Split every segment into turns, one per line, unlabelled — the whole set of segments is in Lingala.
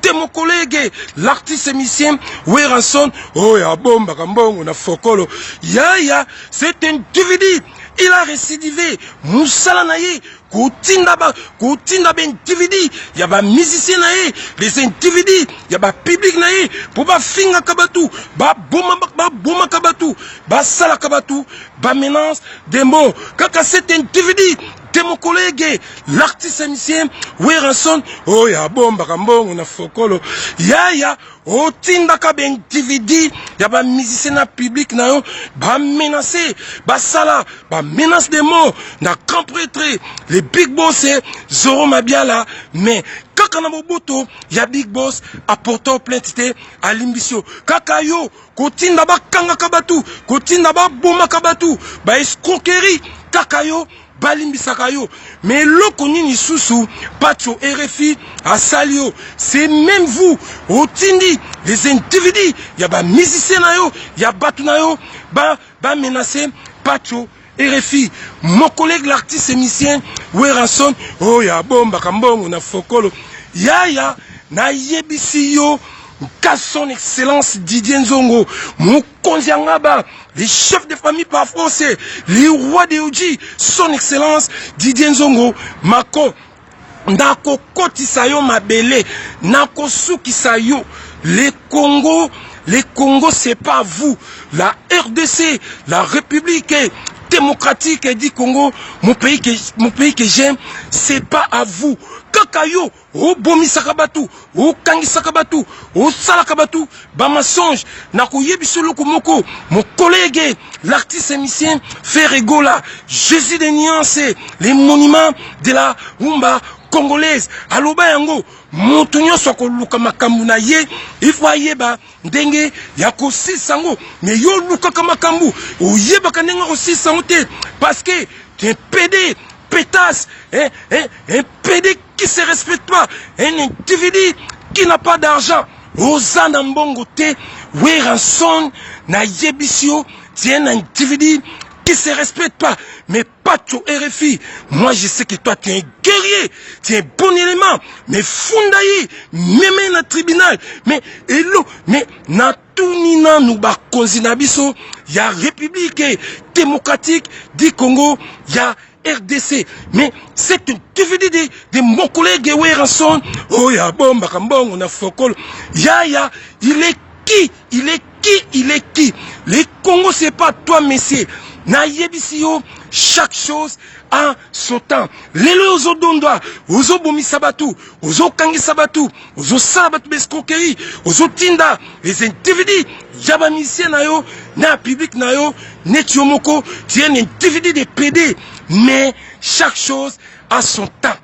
te mon collègue l'artiste émicien Werrason oyo oh, abombaka mbongo na fokolo yaya c'est un dvd il a récidivé mosala na ye kotinda ba kotinda ba dvd ya ba musicien na ye les dvd ya ba public na ye mpo bafingaka bato babomaka bato basalaka bato ba menace de mort kaka c'est un dvd Te mokolo ege l'artiste musicien Werrason oyo abombaka mbongo na fokolo yaya otindaka baindividu ya bamusicien na public na yo bamenace basala bamenace de mort na grand pretre le big boss zoro mabiala mais kaka na boboto ya big boss aportao plainte te alimbisi yo kaka yo kotinda bakangaka bato kotinda babomaka bato ba escroquerie kaka yo balimbisaka yo mais eloko nini lisusu pacho rfi asali yo c'est même vous otindi les individus ya bamusicien na yo ya bato na yo bamenace ba pacho RFI, mon collègue l'artiste émicien Werrason, oh ya bomba kambongo na fokolo. Yaya, na yebisi yo, ka son excellence Didier Nzongo, mon Konziangaba, les chefs de famille par français, les rois de Oji, son excellence Didier Nzongo, Mako, Nakokotisa yo mabele, nakosukisa yo. Le Congo, le Congo c'est pas vous. La RDC, la République démocratique du Congo, mon pays que, mon pays que j'aime, c'est pas à vous. Kaka yo, obomisaka batu. okangisaka bato osalaka bato bamensonge na koyebisa eloko moko mokolege l'artiste émicien ferregola jésus de nuance le monument de la rumba congolaise aloba yango moto nyonso akoluka makambo na ye ifo ayeba ndenge ya kosilisa yango me yo olukaka makambo oyebaka ndenge ya kosilisa yango te parce que te pede petas eh, eh, eh, pede qui se respecte pas un individu qui n'a pas d'argent oza na mbongo te weranson na yebisi yo tu es un individu qui se respecte pas mais pacho rfi moi je sais que toi tu es un guerrier tu es un bon élément mais funda ye meme na tribunal mais elo mais na tuni nanu bakonzi na biso ya republique démocratique du congo ya rdc mais c'est un dvd de, de mon collègue weranson oyo abombaka mbongo na fokolo yaya il est qui il est qui il est qui le congo c'est pas toi monsieur nayebisi yo chaque chose en son temps lelo ozodondwa ozobomisa bato ozokangisa bato ozosala bato baescroquerie ozotinda les individus ya bamisie na yo na public na yo neti yo moko tu un individu de pede mais chaque chose a son temps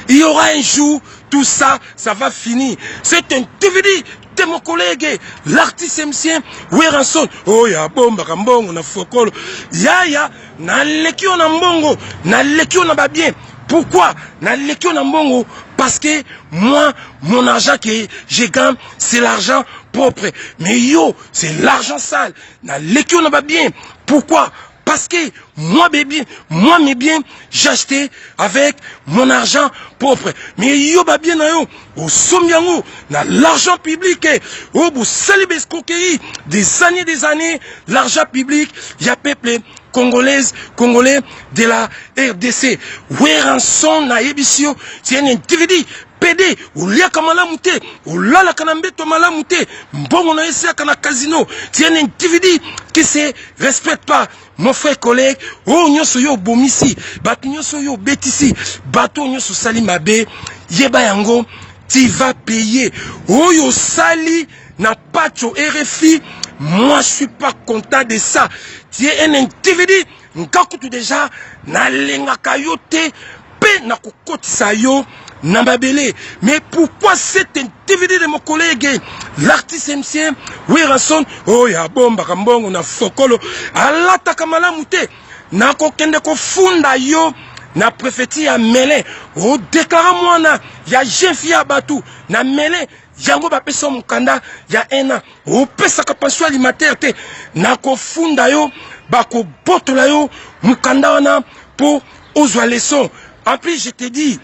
il y aura un jour tout ça ça va finir cet individu te mon collègue l'artiste mcien weranson oyo oh, abombaka mbongo na fokolo yaya naleki yo na mbongo naleki yo na babien pourquoi naleki yo na mbongo parce que moi mon argent que je gagne c'est l'argent propre mais yo c'est l'argent sale naleki yo na babien pourquoi parce que moi mes biens moi mes biens j'acheté avec mon argent propre mais yo babien na yo Bosombi yango na l'argent public eh. oyo bosali baescroquerie des années des années l'argent public ya peuple congolaise congolais de la rdc weranson nayebisi yo c'est un individu pede oliaka malamu te olalaka na mbeto malamu te mbongo na yo esiaka na casino c'est un individu qui se respecte pas Mon frère collègue, oyo nyonso yo obomisi, bato nyonso yo obetisi, bato oyo nyonso osali mabe, yeba yango tu vas payer. Oyo osali na Pacho RFI, moi je suis pas content de ça. Tu es un individu, nkakutu déjà nalengaka yo te Pe na kokotisa yo na mabele. Mais pourquoi cet individu de mon collègue l'artiste ancien Werrason oyo oh, abombaka mbongo na fokolo alataka malamu te na kokende kofunda yo na prefeti ya mele odeklare mwana ya jefi ya bato na mele yango bapesi yo mokanda ya un an opesaka pension alimentaire te nakofunda yo bakobotola yo mokanda wana mpo ozwa leson en plus je te dis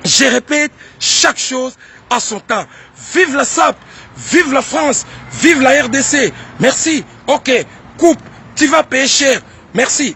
je répète chaque chose à son temps vive la sap vive la france vive la rdc merci ok coupe tu vas payer cher merci